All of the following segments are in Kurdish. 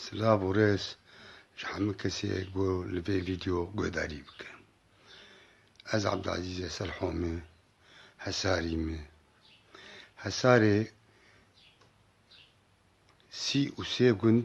Silav û rêz ji hemû kesê ku li vê vîdeo guhdarî bike. Ez Abdulazîz Eselho me, Hesarî me. Hesarê sî û sê gund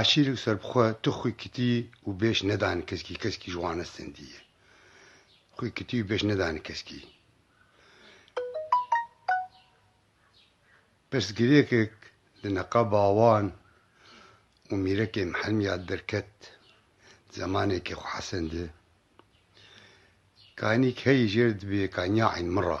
Eşîrî û serbixwe tu xwî kitî û bêş nedanî keskî, keskî ji wan estendî ye. Xwî kitî û bêş nedanî keskî. Pirsgirêkek li neqaba wan û mîrekê Mihelmîya derket di zemanekê xwe Hesen de. Kanîk heyî jêr dibê ka nya eyn min ra.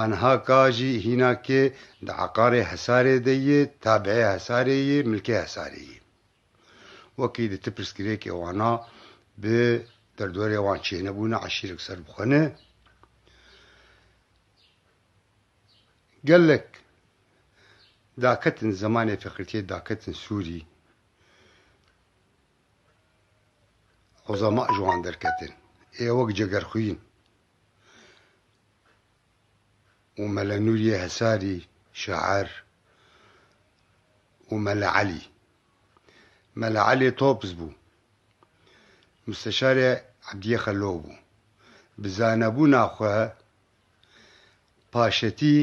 Anha ka jî hîna kê di eqarê Hesarê de yê, tabeê Hesarê yê, milkê Hesarê yê. Wekî di ti pirsgirêkê wana bi derdorê wan çênebûna eşîrek ser bi xwe ne. Gelek daketin zemanê feqîrtiyê daketin sûrî. Ozama ji wan derketin. Ê wek cegerxwîn. û Mele Nûriyê Hesarî şair û Mele Elî. Mele Elî Topz bû. Musteşarê Ebdiyê Xelo bû. Bi zanebûna xwe paşetî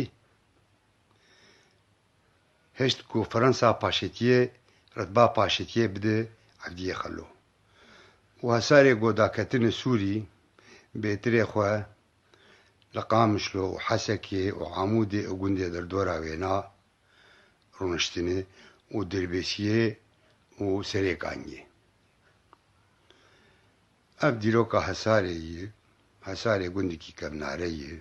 hişt ku firansa paşetiyê, ritba paşetiyê bide Ebdiyê Xelo. Û Hesarê ku daketinê Sûrî bêtirê xwe Li Qamişlo û Hesekê û Amûdê û gundê derdora wêna rûniştinê û Dirbêsiyê û Serêkan ye. Ev dîroka Hesarê ye. Hesarê gundikî kevnare ye.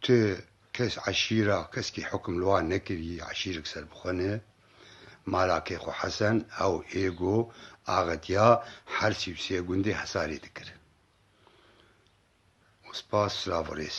Tu kes eşîra keskî hukm li wan nekirî, eşîrek serbixwe ne. Mala kê xwe Hesen, ew ê go axetiya her sî û sê gundê hesarê dikir. Spas, silav û rêz.